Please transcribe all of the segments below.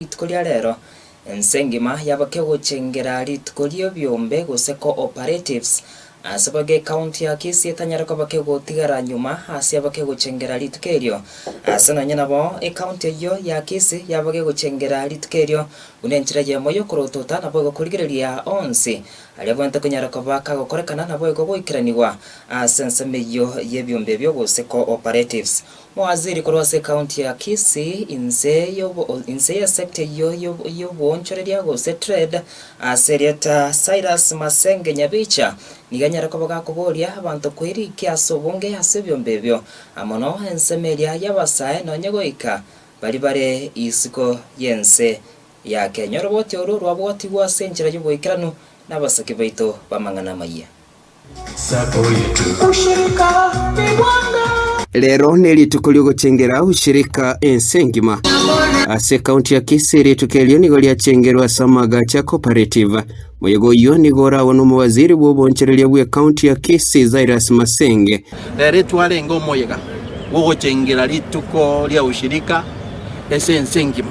Rituko ria rero, ense engima yabokia gochengera rituko ri'ebiombe gose co-operatives. Ase boigo ecounty ya Kisii etanyare kobokia gotigara nyuma ase yabokia gochengera rituko erio. Ase nonya nabo, ecounty eyio ya Kisii yabokia gochengera rituko erio buna enchera eyemo y'okorotota naboigo korigereria onsi aria abwenerete konyara koba kagokorekana naboigo goikeranigwa ase ensemo eyio y'ebiombe ebio gose co-operatives. Mowaziri korwa ase ekaunti ya Kisii, inse y'obo, inse ye sector eyio y'obo, y'obwoonchoreria gose trade, ase erieta Cyrus Masenge Nyabicha, nigo enyare koba gakoboria abanto kweriki ase obonge ase ebiombe ebio, amono ensemo eria y'abasae nonye goika bari bare isiko y'ense ya Kenya. Oroboti oro rwabwatigwe ase enchera y'oboikeranu nabasaki baito b'amang'ana amayia. Rero nerituko riogochengera ushirika ense engima. Ase ekaunti ya Kisii rituko erio nigo riachengerwe ase amagacho ya cooperative. Moyega oyio nigo oragwo nomowaziri bw'oboonchoreria bw'ekaunti ya Kisii Cyrus Masenge. Rero etwarenge omoyega bw'ogochengera rituko ria ushirika ase ense engima.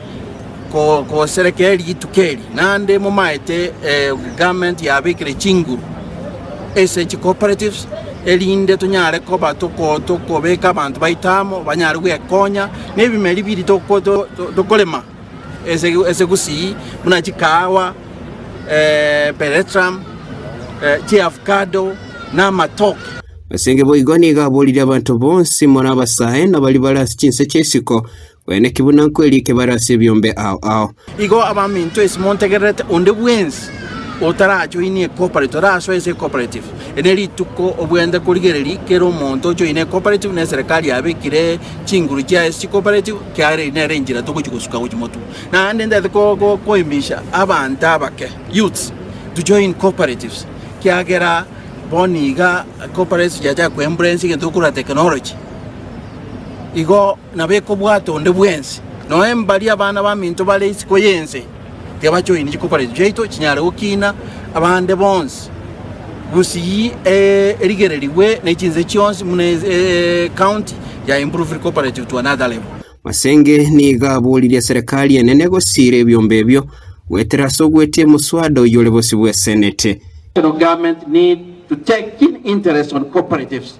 koserekea rituko eri, naende momaete garment yabekire chinguru ase chicooperatives, erinde tonyare koba tokobeka abanto baito amo banyare gwekonya nebimeri biri tokorema ase gusii buna chikahawa, peretrum, chiavocado na amatoke. As'enke boigo nigo aborire abanto bonsi, more abasae, na baria bare ase chinse chi'esiko, Gweneki buna nkwerike bare ase ebiombe ao ao. Igo abaminto ase montegererete onde bwensi otarajoinia ecoperate orasoe ase ecoperate ere ne rituko obwenerete korigereria kera omonto ojoine ecoperate na eserekari yabekire chinguru chiaye ase chicoperate kiagera eri nere enchera togochi gosuka gochi motu naende ndete koimisha abanto abake youths to join cooperatives kiagera bono iga cooperatives chiacha koembracinga egento tokora technology igo Nabeke obwato onde bwensi, noe mbaria abana baminto bare isiko y'ense tibachoini chikokorero chiaito chinyare gokiina abande bonsi, gusii erigererigwe ne chinse chionsi buna ecounty ya improved cooperative to another level. Masenge nigo aboririe Serikali enene gosiira ebiombe ebio goetera ase ogwetia omoswada oyio ore bosio bw'Esenete. National government need to take keen interest on cooperatives.